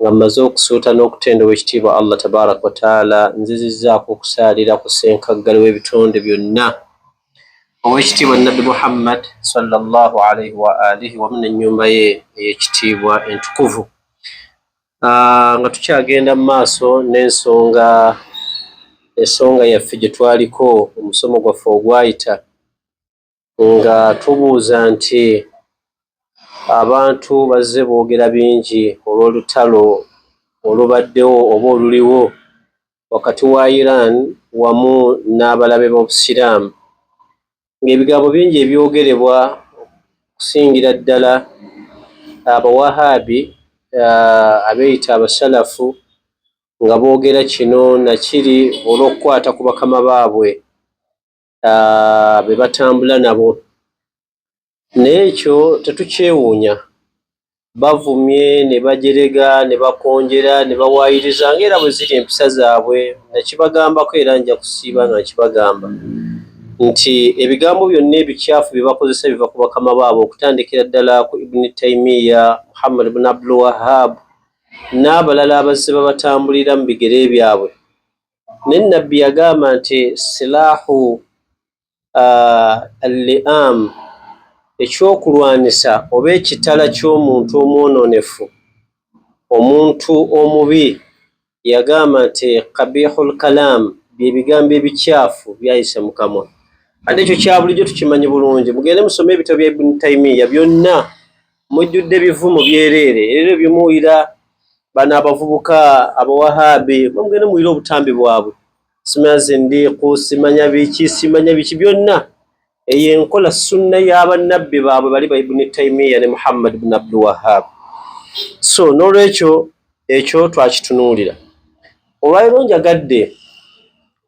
nga mmaze okusuuta n'okutenda Ow'ekitiibwa Allah Tabaaraka wa Taala, nzizizzaako okusaalira ku Ssenkaggale w'ebitonde byonna, Ow'ekitiibwa Nnabbi Muhammad, swalla Llaahu alaihi wa aalihi, wamu n'ennyumba ye ey'ekitiibwa entukuvu. Ah, nga tukyagenda mu maaso n'ensonga ensonga yaffe gye twaliko omusomo gwaffe ogwayita, nga tubuuza nti abantu bazze boogera bingi olw'olutalo olubaddewo oba oluliwo wakati wa Iran wamu n'abalabe b'Obusiraamu ng'ebigambo bingi ebyogerebwa okusingira ddala Abawahaabi abeeyita Abasalafu nga boogera kino na kiri olw'okukwata ku bakama baabwe. ah, be batambula nabo naye ekyo tetukyewuunya bavumye ne bajerega ne bakonjera ne bawaayiriza nga era bwe ziri empisa zaabwe nakibagambako era nja kusiiba nga nkibagamba nti ebigambo byonna ebikyafu bye bakozesa biva ku bakama baabo okutandikira ddala ku ibuni taimiya muhammad bun abdul wahab n'abalala abazze babatambulira mu bigere byabwe naye nabbi yagamba nti silahu uh, alliam ekyokulwanyisa oba ekitala ky'omuntu omwononefu omuntu omubi yagamba nti kabihu lkalam byebigambo ebikyafu byayise mukamwa ate ekyo kyabulijjo tukimanyi bulungi mugende musome ebitabo bya ibuni taimiya byonna mujjudde bivumo byereere era ebyo byemuwulira bano abavubuka abawahabi bamugende muwulire obutambi bwabwe simanya zindiiku simanya biki simanya biki byonna eyo enkola sunna y'abannabbi baabwe bali ba ibuni taimiya ne muhammad bni abdulwahab so n'olwekyo ekyo twakitunuulira olwaliro njagadde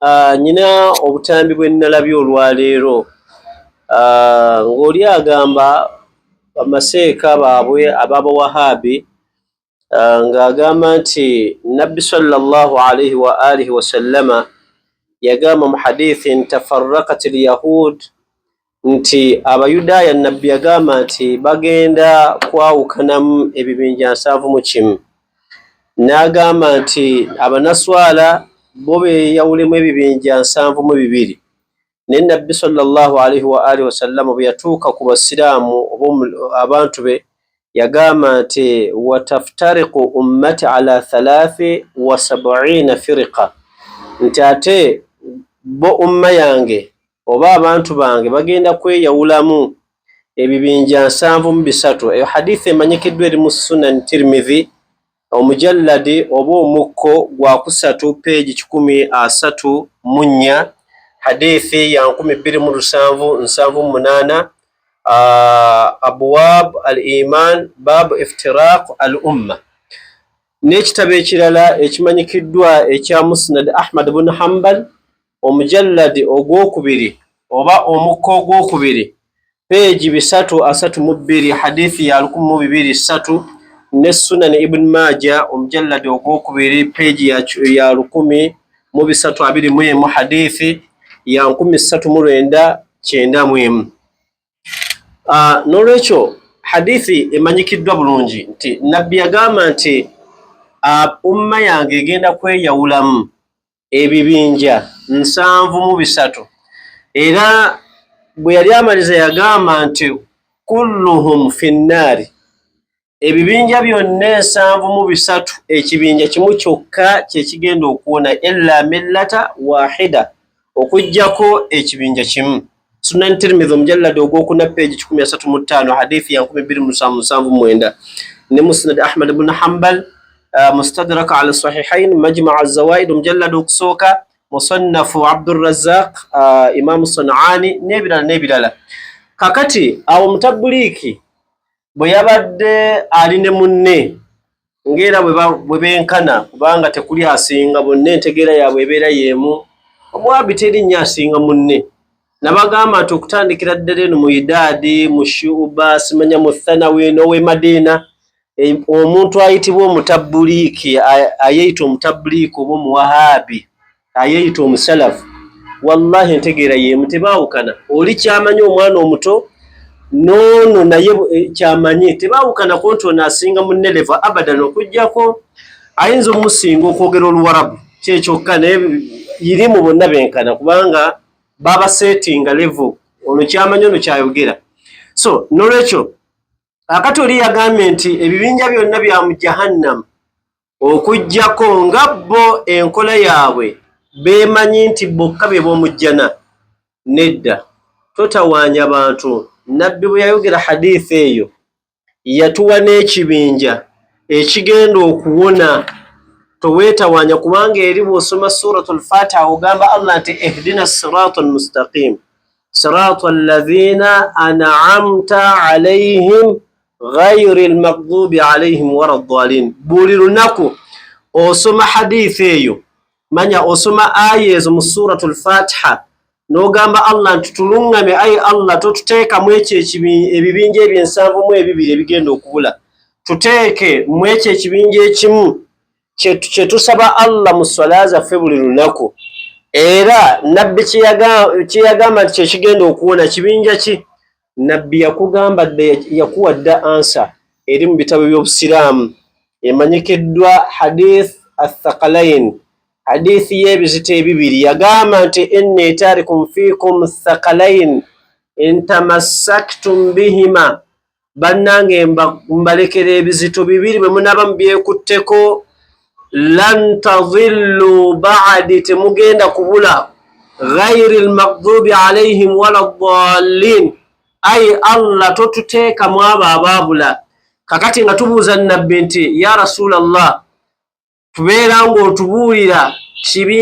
Ah, nyina obutambi bwe nnalabye olwaleero ah, ng'oli agamba bamaseeka baabwe ab'abawahabi ah, ng'agamba nti nabbi sallallahu alaihi wa alihi wasallama yagamba mu hadithi nti tafarrakat lyahud nti Abayudaaya Nabbi yagamba nti bagenda kwawukanamu ebibinja nsanvu mu kimu, n'agamba nti Abanaswala bo beeyawulemu ebibinja nsanvu mu bibiri. Naye Nabbi sallallahu alaihi wa alihi wasallama bwe yatuuka ku Basiraamu oba abantu be yagamba nti wataftariqu ummati ala thalaathi wa sab'iina firiqa, nti ate bo umma yange oba abantu bange bagenda kweyawulamu ebibinja nsanvu mu bisatu eyo haditha emanyikiddwa eri mu sunan tirmidhi omujalladi oba omukko gwa kusatu peegi kikumi asatu mu nnya hadithi ya nkumi bbiri mu lusanvu nsanvu mu munaana abwab al iman baabu iftiraq al umma n'ekitabo ekirala ekimanyikiddwa ekya musnad ahmad bun hambal omujalladi ogwokubiri oba omukka ogwokubiri peegi bisatu asatu mu bbiri hadithi ya lukumi mu bibiri ssatu ne sunani ibuni maaja omujalladi ogwokubiri peegi ya lukumi mu bisatu abiri mu emu hadithi ya nkumi ssatu mu lwenda kyenda mu emu ah, n'olwekyo hadithi emanyikiddwa bulungi nti nabbi yagamba nti ah, umma yange egenda kweyawulamu ebibinja nsanvu mu bisatu era bwe yali amaliza yagamba nti kulluhum finnaari ebibinja byonna ensanvu mu bisatu ekibinja kimu kyokka kyekigenda okuwona illa millata wahida okujjako ekibinja kimu Sunan Tirmidhi omujalladi ogwokuna peegi kikumi asatu mu ttaano hadithi ya nkumi bbiri musanvu musanvu mwenda ne Musnad Ahmad ibn Hanbal uh, Mustadrak ala Sahihain Majma' az-Zawaid omujalladi okusooka Musannafu Abdurrazzaq uh, Imam Sanani n'ebirala n'ebirala kakati awo mutabuliiki bwe yabadde ali ne munne ng'era bwe benkana kubanga tekuli asinga bonna entegeera yaabwe ebeera y'emu omuwaabi teri nnyo asinga munne nabagamba nti okutandikira ddala eno mu idaadi mu shuba simanya mu thanawi n'ow'e madiina e, omuntu ayitibwa omutabbuliiki ayeyita omutabbuliiki oba omuwahaabi ayeyita omusalafu wallahi entegeera yemu tebawukana oli kyamanyi omwana omuto nono naye eh, kyamanyi tebawukana ku nti ono asinga muneleva abadan okujjako ayinza omusinga okwogera oluwarabu kyekyokka naye yirimu bonna benkana kubanga baba settinga levo ono kyamanyi ono kyayogera so nolwekyo akati oli yagambye nti ebibinja byonna bya mu jahannamu okujjako nga bo enkola yaabwe beemanyi nti bokka be b'omujjana nedda totawaanya bantu nabbi bwe yayogera hadiithi eyo yatuwa n'ekibinja ekigenda okuwona toweetawaanya kubanga eri bw'osoma suratu lfatiha ogamba allah nti ihdina sirata almustaqimu sirata alladhina an'amta alaihim ghairi lmaghdubi alaihim wala ddalin. Buli lunaku osoma hadithi eyo, manya osoma aya ezo mu suratu lfatiha n'ogamba Allah nti tuluŋŋame ayi Allah totuteekamu ekyo ebibinja ebyo ensanvu mu ebibiri ebigenda okubula tuteeke mu ekyo ekibinja ekimu kye tusaba Allah mu swala zaffe buli lunaku era nabbi kye yagamba nti kyekigenda okuwona kibinja ki nabbi yakugamba dda yakuwa dda ansa eri mu bitabo by'obusiraamu emanyikiddwa hadith athakalain hadith y'ebizito ebibiri yagamba nti inni tarikum fikum thakalain intamassaktum bihima bannange mbalekera ebizito bibiri bwe munaba mubyekutteko lan tadhillu ba'di, temugenda kubula ghairi lmaghdubi alaihim wala ddallin. Ayi Allah totuteeka mu abo abaabula. Kakati nga tubuuza Nabbi nti ya Rasulallah, tubeera ng'otubuulira kibi,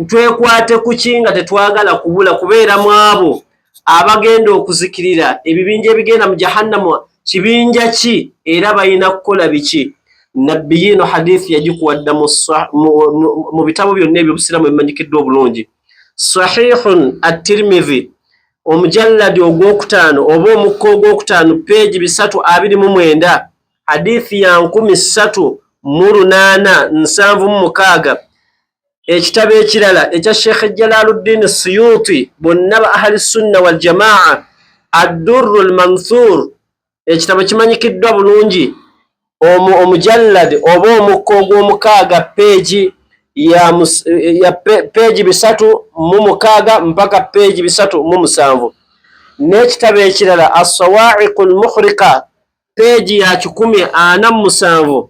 twekwate kuki nga tetwagala kubula kubeera mu abo abagenda okuzikirira ebibinja ebigenda mu jahannamu kibinja ki era balina kukola biki nabbi yiino hadithi yagikuwadda mu bitabo byonna ebyobusiraamu ebimanyikiddwa obulungi sahihun attirmidhi omujalladi ogwokutaano oba omukka ogwokutaano peegi bisatu abiri mu mwenda hadithi ya nkumi ssatu mu lunaana nsanvu mu mukaaga ekitabo ekirala ekya sheikh jalaluddin suyuti bonna ba ahli sunna waljamaa addurru lmanthur ekitabo kimanyikiddwa bulungi omujallad oba omukka ogw'omukaaga peegi ya peegi bisatu mu mukaaga mpaka peegi bisatu mu musanvu n'ekitabo ekirala assawaiqu lmuhrika peegi ya kikumi ana mu musanvu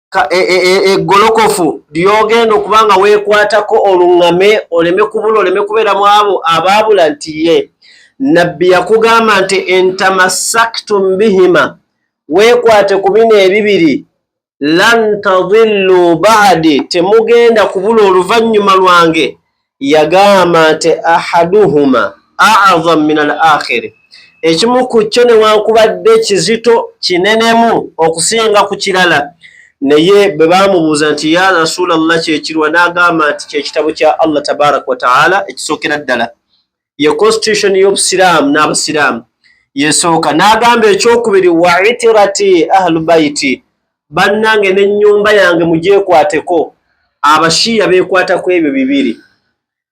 e, e, e, eggolokofu e, e, lyogenda okuba nga weekwatako oluŋŋame oleme kubula oleme kubeera mu abo abaabula nti ye nabbi yakugamba nti entamasaktum bihima weekwate ku bino ebibiri lan tadillu baadi temugenda kubula oluvannyuma lwange yagamba nti ahaduhuma a'zam min al akhiri ekimu ku kyo newankubadde kizito kinenemu okusinga ku kirala naye bwe baamubuuza nti ya rasulallah kyekirwa n'agamba nti kyekitabo kya allah tabaraka wataala ekisookera ddala ye constitution y'obusiraamu n'abasiraamu yesooka n'agamba ekyokubiri wa itirati ahlubaiti bannange n'ennyumba yange mugyekwateko abashiiya beekwata ku ebyo bibiri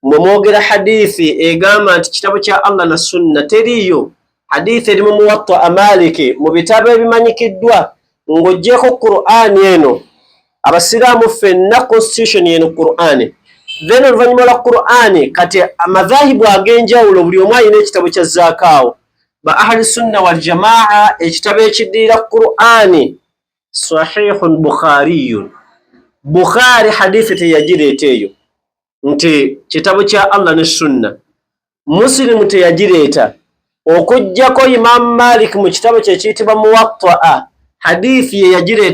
mwe mwogera hadithi egamba nti kitabo kya allah na sunna teriiyo Hadithi eri mu Muwatta Maliki mu bitabo ebimanyikiddwa ng'ogyeko Qur'ani eno abasiraamu ffenna constitution eno Qur'ani then oluvannyuma lwa Qur'ani kati amadhahibu ag'enjawulo buli omu alina ekitabo kya zaakaawo ba ahli sunna wal jamaa ekitabo ekiddirira Qur'ani sahihun bukhariyun Bukhari hadithi teyagireeta eyo nti kitabo kya Allah ne sunna musilimu teyagireeta okugyako imamu malik mu kitabo kye kiyitibwa muwattaa hadithi ye yagireeta